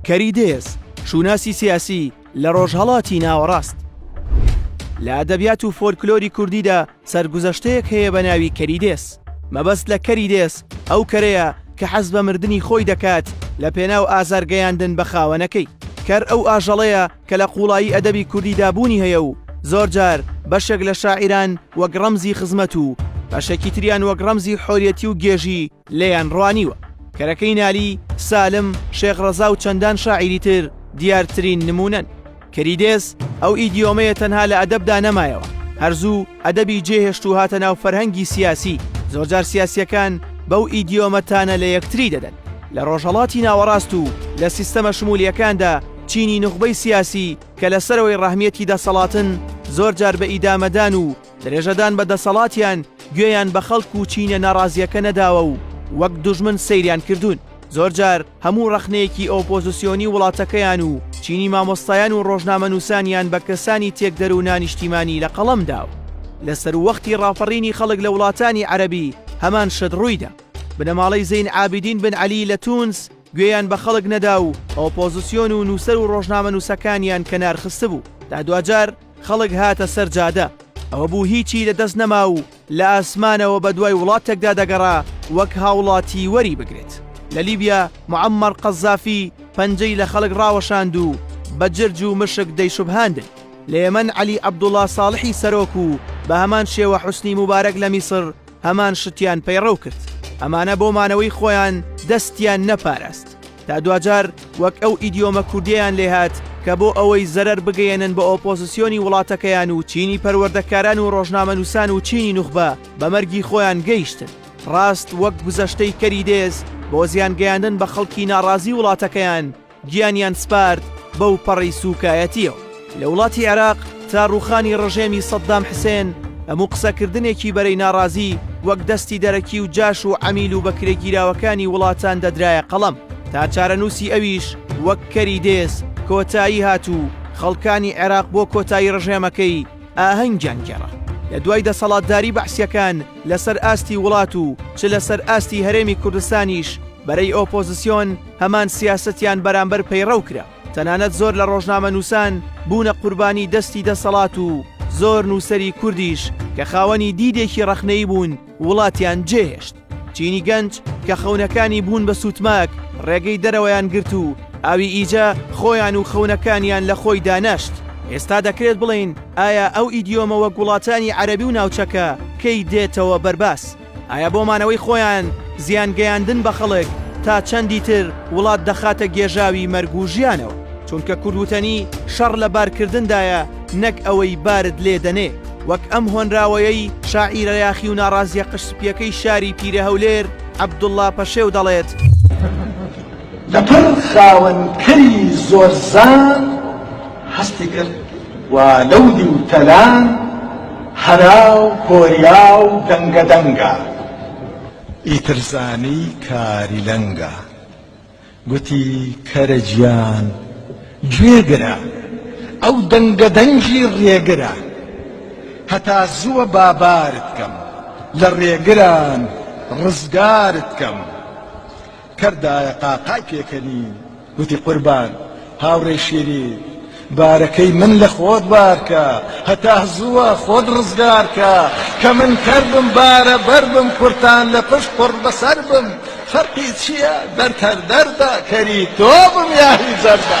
کەری دێز، شووناسی سیاسی لە ڕۆژهەڵاتی ناوەڕاست. لە ئەدەبیات و فۆلکلۆری کوردیدا سەرگوزەشتەیەک هەیە بە ناوی کەری دێز. مەبەست لە کەری دێز ئەو کەرەیە کە حەز بە مردنی خۆی دەکات لە پێناو ئازارگەیاندن بە خاوەنەکەی. کەر ئەو ئاژەڵەیە کە لە قووڵایی ئەدەبی کوردیدا بوونی هەیە و زۆرجار بەشێک لە شاعیران وەک ڕەمزی خزمەت و بەشێکی تریان وەک ڕەمزی حۆریەتی و گێژی لێیان ڕوانیوە. کەرەکەی نالی، سالم، شێخ ڕەزا و چەندان شاعیری تر دیارترین نموونەن. کریدێس، ئەو ئیدیۆمەیە تەنها لە ئەدەبدا نەمایەوە، هەر زوو ئەدەبی جێهێشت و هاتە ناو فەرهەنگی سیاسی، زۆرجار سیاسییەکان بەو ئیدیۆمە تانە لە یەکتری دەدەن. لە ڕۆژهەڵاتی ناوەڕاست و لە سیستەمە شمولییەکاندا چینی نوخبەی سیاسی کە لە سەرەوەی ڕەهمیەتی دەسەڵاتن زۆرجار بە ئیدامەدان و درێژەدان بە دەسەڵاتیان گوێیان بە خەڵک و چینە ناڕازیەکە نەداوە و وەک دوژمن سەیریان کردوون. زۆر جار هەموو ڕەخنەیەکی ئۆپۆزسیۆنی وڵاتەکەیان و چینی مامۆستایان و ڕۆژنامەنووسانیان بە کەسانی تێکدەر و نانیشتیمانی لە قەڵەم داوە. لە سەرووەختی ڕاپەڕینی خەڵک لە وڵاتانی عەرەبی هەمان شت ڕوویدا. بنەماڵەی زەین عابیدین بن عەلی لە تونس گوێیان بە خەڵک نەدا و ئۆپۆزسیۆن و نووسەر و ڕۆژنامەنووسەکانیان کەنار خستبوو تا دواجار خەڵک هاتە سەر جادە ئەوە بوو هیچی لە دەست نەما و لە ئاسمانەوە بە دوای وڵاتێکدا دەگەڕا وەک هاوڵاتی وەری بگرێت لە لیبیا معمەر قەزافی پەنجەی لە خەڵک ڕاوەشاند و بە جرج و مشک دەیشوبهاندن لە یەمەن علی عبدوڵا ساڵحی سەرۆک و بە هەمان شێوە حوسنی مبارەک لە میسر هەمان شتیان پەیڕەو کرد ئەمانە بۆ مانەوەی خۆیان دەستیان نەپاراست تا دواجار وەک ئەو ئیدیۆمە کوردیەیان لێهات کە بۆ ئەوەی زەرەر بگەیەنن بە ئۆپۆزسیۆنی وڵاتەکەیان و چینی پەروەردەکاران و ڕۆژنامەنووسان و چینی نوخبە بە مەرگی خۆیان گەیشتن ڕاست وەک گوزەشتەی کەری دێز بۆ زیان گەیاندن بە خەڵکی ناڕازی وڵاتەکەیان گیانیان سپارد بەو پەڕی سووکایەتیەوە. لە وڵاتی عێراق تا ڕووخانی ڕژێمی سەددام حسێن هەموو قسەکردنێکی بەرەی ناڕازی وەک دەستی دەرەکی و جاش و عەمیل و بەکرێگیراوەکانی وڵاتان دەدرایە قەڵەم تا چارەنووسی ئەویش وەک کەری دێز کۆتایی هات و خەڵکانی عێراق بۆ کۆتایی ڕژێمەکەی ئاهەنگیان گێڕا. لە دوای دەسەڵاتداری بەعسییەکان لەسەر ئاستی وڵات و چ لەسەر ئاستی هەرێمی کوردستانیش بەرەی ئۆپۆزسیۆن هەمان سیاسەتیان بەرامبەر پەیڕەو کرا. تەنانەت زۆر لە ڕۆژنامەنووسان بوونە قوربانی دەستی دەسەڵات و زۆر نووسەری کوردیش کە خاوەنی دیدێکی ڕەخنەیی بوون وڵاتیان جێهێشت. چینی گەنج کە خەونەکانی بوون بە سووتماک ڕێگەی دەرەوەیان گرت و ئاوی ئیجە خۆیان و خەونەکانیان لە خۆی دانەشت. ئێستا دەکرێت بڵێین ئایا ئەو ئیدیۆمە وەک وڵاتانی عەرەبی و ناوچەکە کەی دێتەوە بەرباس؟ ئایا بۆ مانەوەی خۆیان زیان گەیاندن بە خەڵک تا چەندی تر وڵات دەخاتە گێژاوی مەرگ و ژیانەوە چونکە کوردوتەنی شەڕ لە بارکردندایە نەک ئەوەی بارد لێ دەنێ وەک ئەم هۆنراوەیەی شاعیرە یاخی و ناڕازیە قژ سپیەکەی شاری پیرە هەولێر عەبدوڵا پەشێو دەڵێت لەپڕ خاوەن کەری زۆرزان هەستی کرد و لەو دیو تەلان هەرا و کۆریا و دەنگە دەنگە. ئیتر زانی کاری لەنگە. گوتی، کەرە گیان گوێ گرە، ئەو دەنگە دەنگی ڕێگرە. هەتا زووە با بارت کەم، لە ڕێگران ڕزگارت کەم. کەر دایە قاقای پێکەنی گوتی قوربان هاوڕێی شیرین بارەکەی من لە خۆت بارکە هەتا زووە خۆت ڕزگارکە کە من کەر بم بارە بەر بم کورتان لە پشت قڕ بەسەر بم فەرقی چییە دەرد هەر دەردە کەری تۆ بم یاهی جەردە